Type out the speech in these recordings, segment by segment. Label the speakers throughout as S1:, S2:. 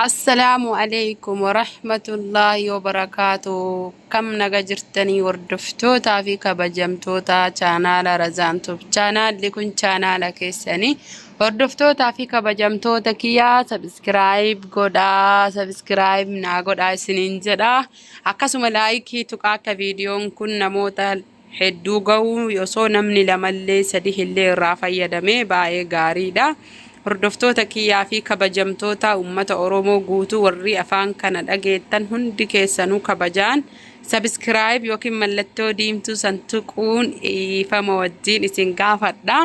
S1: Assalaamu aleykum warahmatullaahi wabarakaatuh Akkam naga jirtanii hordoftootaa fi kabajamtoota chaanaala Razaan Tube chaanaalli kun chaanaala keessanii hordoftootaa fi kabajamtoota kiyyaa sabiskiraayib godhaa sabiskiraayib naa godhaa isiniin jedha akkasuma laayikii tuqaa akka viidiyoon kun namoota hedduu ga'u osoo namni lamallee sadihillee irraa fayyadame baayee gaariidha hordoftoota kiyyaa fi kabajamtoota ummata oromoo guutuu warrii afaan kana dhageettan hundi keessanuu kabajaan subscribe yookiin mallattoo diimtuu san tuquun dhiifama wajjiin isin gaafadha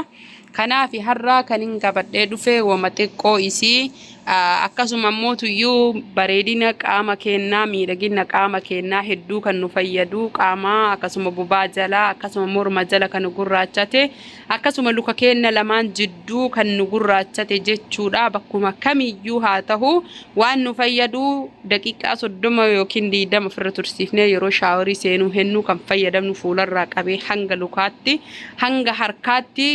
S1: Kanaafi har'aa kanin qabadhee dhufe woma xiqqoo isii akkasuma immoo tuyyuu bareedina qaama keennaa miidhaginna qaama keennaa hedduu kan nu fayyadu qaama akkasuma bubaa jala akkasuma morma jala kan nu gurraachate akkasuma luka keenna lamaan jidduu kan nu gurraachate jechuudha bakkuma kamiyyuu haa tahu waan nu fayyadu daqiiqaa soddoma yookiin diidama ofirra tursiifnee yeroo shaaworii seenuu hennuu kan fayyadamnu fuularraa qabee hanga lukaatti hanga harkaatti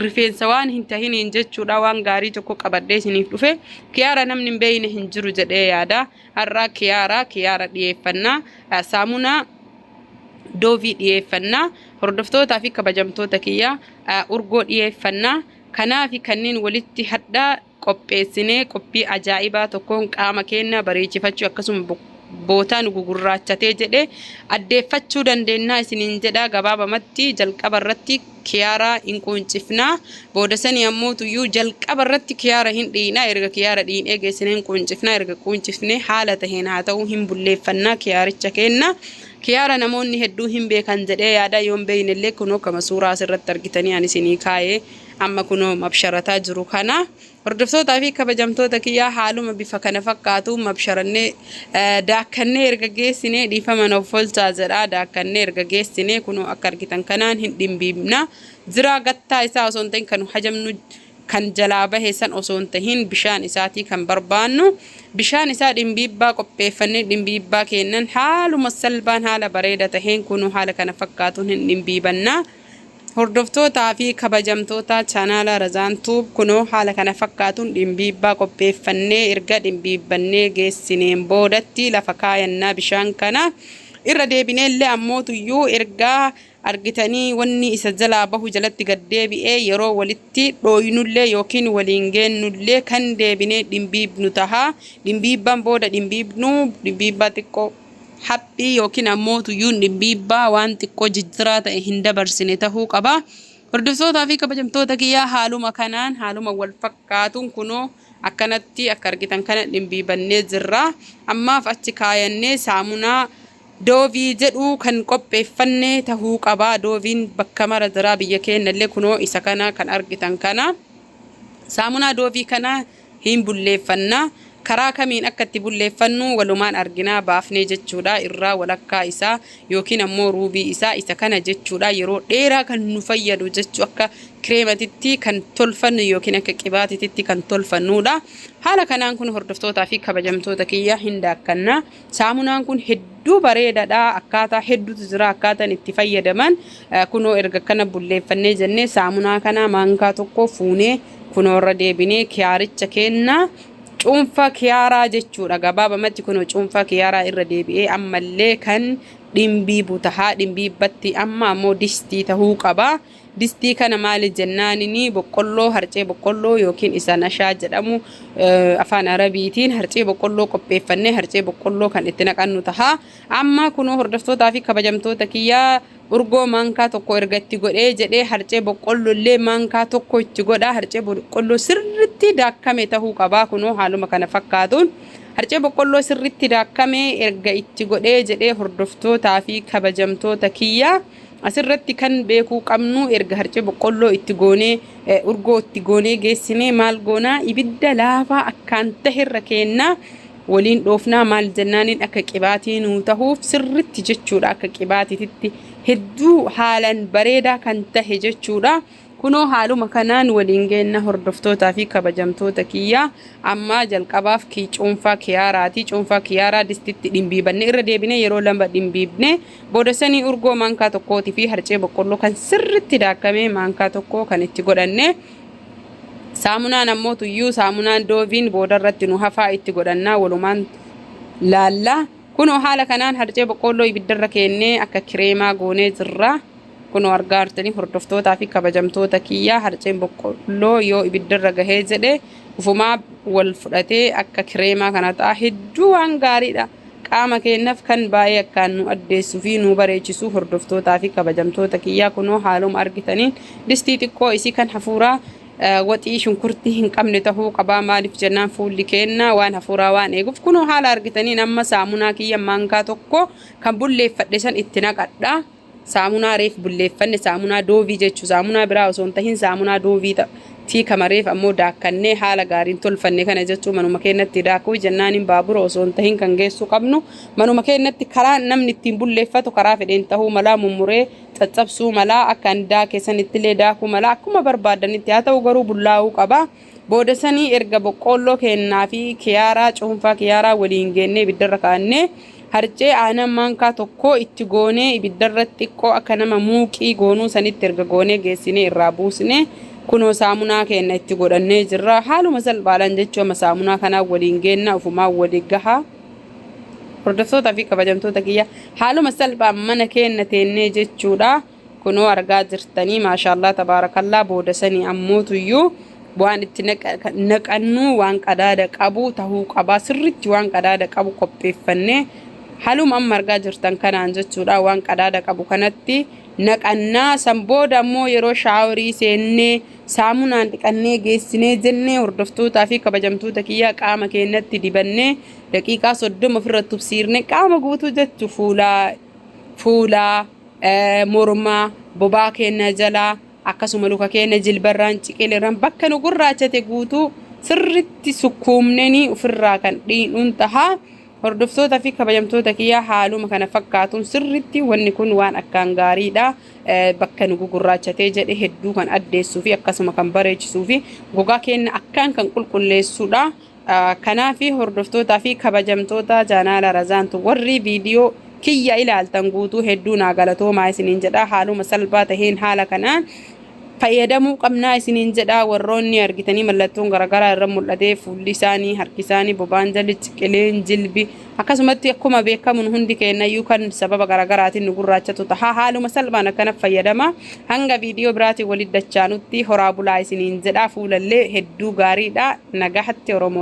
S1: rifeensa waan hin tahiniin jechuudha waan gaarii tokko qabadhee isiniif dhufe kiyaara namni hin beeyne hin jiru jedhee yaada har'aa kiyaara kiyaara dhiyeeffannaa eh, saamunaa doovii dhiyeeffannaa hordoftootaa fi kabajamtoota kiyyaa eh, urgoo dhiyeeffannaa kanaa fi kanneen walitti hadhaa qopheessinee qophii ajaa'ibaa tokkoon qaama keenya bareechifachuu akkasuma bootaa nu gugurraachatee jedhe addeeffachuu dandeennaa isiniin jedha gabaabamatti jalqaba irratti kiyaaraa hin quuncifnaa booda sanii ammoo tuyyuu jalqaba irratti kiyaara hin dhiinaa erga kiyaara dhiinee geessine hin quuncifnaa erga quuncifne haala taheen haa ta'uu hin bulleeffannaa kiyaaricha keenna kiyaara namoonni hedduu hin beekan jedhee yaada yoon beeynellee kunoo kama suuraa asirratti argitanii an isinii kaayee Amma kunoo mabsharataa jiru kana. Hordoftootaa fi kabajamtoota kiyyaa haaluma bifa kana fakkaatuun mabsharannee daakkannee erga geessinee dhiifama na offolchaa jedha. Daakkannee erga geessinee kunoo akka argitan kanaan hin dhimbiibna. Ziraa gattaa isaa osoo hin ta'in kan nu hajamnu kan jalaa bahe san osoo hin tahin bishaan isaatii kan barbaannu. Bishaan isaa dhimbiibbaa qopheeffannee dhimbiibbaa keennan haaluma salbaan haala bareeda taheen kunoo haala kana fakkaatuun hin dhimbiibanna. Hordoftootaa fi kabajamtoota Chaanaala Razaan Tube kunoo haala kana fakkaatuun dhimbiibbaa qopheeffannee erga dhimbiibbannee geessineen boodatti lafa kaayannaa bishaan kana irra deebinee illee ammootuyyuu erga argitanii wanni isa jalaa bahu jalatti gad deebi'ee yeroo walitti dhooynullee yookiin waliin geennullee kan deebinee dhimbiibbnu taha dhimbiibbaan booda dhimbiibbnu dhimbiibbaa xiqqoo Haphi yookiin ammoo tuyyuun dhibbiibbaa waan xiqqoo jijjiraa ta'e hin dabarsine tahuu qaba. Hordoftootaa fi kabajamtoota kiyyaa haaluma kanaan haaluma wal fakkaatuun kunoo akkanatti akka argitan kana dhimbiibannee jirra. Ammaaf achi kaayannee saamunaa doovii jedhu kan qopheeffanne tahuu qaba. Dooviin bakka mara jira biyya keennallee kunoo isa kana kan argitan kana. Saamunaa doovii kana hin bulleeffanna. Karaa kamiin akka itti bulleeffannu walumaan arginaa baafnee jechuudha irraa walakkaa isaa yookiin ammoo ruubii isaa isa kana jechuudha yeroo dheeraa kan nu fayyadu jechuu akka kireematitti kan tolfannu yookiin akka qibaatititti kan tolfannuudha haala kanaan kun hordoftootaa fi kabajamtoota kiyya hin daakkanna Saamunaan kun hedduu bareedadha akkaataa hedduutu jira akkaataan itti fayyadaman kunoo erga kana bulleeffannee jennee saamunaa kana maankaa tokko fuunee kunoo irra deebinee kiyaaricha keenna cuunfa kiyaaraa jechuudha gabaabamatti kunoo cuunfa kiyaaraa irra deebi'ee ammallee kan dhimbii butahaa dhimbii batti amma ammoo distii tahuu qaba. Distii kana maali jennaanini boqqolloo, harcee boqqolloo yookiin isa nashaa jedhamu afaan Arabiitiin harcee boqqolloo qopheeffannee harcee boqqolloo kan itti naqannu taha. Amma kunoo hordoftootaa fi kabajamtoota kiyyaa urgoo maankaa tokko erga itti godhee jedhee harcee boqqolloo illee maankaa tokko itti godhaa harcee boqqolloo sirritti daakkame tahuu qabaa kunoo haaluma kana fakkaatuun harcee boqqolloo sirritti daakkame erga itti godhee jedhee hordoftootaa fi kabajamtoota kiyyaa Asirratti kan beekuu qabnu erga harcee boqqolloo itti goonee urgoo itti goonee geessinee maal goonaa ibidda laafaa akkaan taherra keennaa waliin dhoofnaa maal jennaaniin akka qibaatii nuu tahuuf sirritti jechuudha akka qibaatititti hedduu haalan bareedaa kan tahe jechuudha. Kunoo haaluma kanaan waliin geenna hordoftootaa fi kabajamtoota kiyya. Amma jalqabaaf kii cuunfaa kiyaaraa ti. Cuunfaa kiyaaraa distitti dhimbiibanne irra deebinee yeroo lama dhimbiibne. Booda sanii urgoo maankaa tokkootii fi harcee boqqolloo kan sirritti daakkame maankaa tokko kan itti godhanne. Saamunaan ammoo tuyyuu saamunaan dooviin boodarratti nu hafaa itti godhannaa walumaan laalla. Kunoo haala kanaan harcee boqqoolloo ibiddarra keennee akka kireemaa goonee jirra. Kunoo argaa jirtanii hordoftootaa fi kabajamtoota kiyyaa harceen boqqoolloo yoo ibiddarra gahee jedhe ufumaa wal fudhatee akka kireemaa kana ta'a hedduu waan gaariidha. Qaama keennaf kan baay'ee akkaan nu addeessu fi nu bareechisuu hordoftootaa fi kabajamtoota kiyyaa kunoo haaluma argitaniin distii xiqqoo isii kan hafuuraa Waxii shunkurtii hin qabne tahuu qabaa maaliif jennaan fuulli keenna waan hafuuraa waan eeguuf kunoo haala argitaniin amma saamunaa kiyya maankaa tokko kan bulleeffadhe san itti naqadha saamunaa reef bulleeffanne saamunaa doovii jechu saamunaa biraa osoo hin tahin saamunaa doovii tii kama reef ammoo daakkannee haala gaariin tolfanne kana jechuu manuma keennatti daakuu jennaan hin baabura osoo hin tahin kan geessuu qabnu manuma keennatti karaa namni ittiin bulleeffatu karaa fedheen tahuu malaa mummuree caccabsuu mala akka andaa keessanittillee daakuu mala akkuma barbaaddanitti haa ta'u garuu bullaa'uu qaba booda sanii erga boqqoolloo keennaa fi kiyaaraa cuunfaa kiyaaraa waliin geennee ibiddarra kaa'annee harcee aanan maankaa tokkoo itti goonee ibiddarra xiqqoo akka nama muuqii goonuu sanitti erga goonee geessinee irraa buusnee kunoo saamunaa keenna itti godhannee jirra haaluma salphaadhaan jechuu amma saamunaa kanaa waliin geennaa ofumaa wali gahaa Hordoftootaa fi kabajamtoota kiyya haaluma salphaan mana keenna teennee jechuudha kunoo argaa jirtanii maashaallaa tabaarakallaa booda sanii ammootuyyuu waan itti naqannuu waan qadaada qabu tahuu qabaa sirritti waan qadaada qabu qopheeffannee haluma amma argaa jirtan kanaan jechuudha waan qadaada qabu kanatti naqannaa san booda ammoo yeroo shaaworii seennee saamunaan dhiqannee geessinee jennee hordoftootaa fi kabajamtoota kiyya qaama keennatti dibannee Daqiiqaa 30 ofirra tubsiirne qaama guutuu jechu fuulaa fuulaa eh, mormaa bobaa keenya jalaa akkasuma luka keenya jilbarraan ciqileerraan bakka nu gurraachate guutuu sirritti sukkuumnenii ofirraa kan dhiinuun taha hordoftoota fi kabajamtoota kiyyaa haaluma kana fakkaatuun sirritti wanni kun waan akkaan gaariidha Eh, bakka nu gugurraachatee jedhe hedduu kan addeessuu fi akkasuma kan bareechisuu fi gogaa keenya akkaan kan qulqulleessuudha Kanaafi hordoftootaa fi kabajamtoota jaanaala Razaantu warri viidiyoo kiyya ilaaltan guutuu hedduu naa galatoomaa isiniin jedhaa haaluma salphaa taheen haala kanaan fayyadamuu qabnaa isiniin jedhaa warroonni argitanii mallattoon garagaraa irra mul'atee fuulli isaanii harki isaanii bobaan jalli ciqileen jilbi akkasumatti akkuma beekamun hundi keennayyuu kan sababa garagaraatiin nu gurraachatu tahaa haaluma salphaan akkana fayyadama hanga viidiyoo biraatiin walitti dachaanutti horaa bulaa isiniin jedhaa fuulallee hedduu gaariidha nagahatti oromoo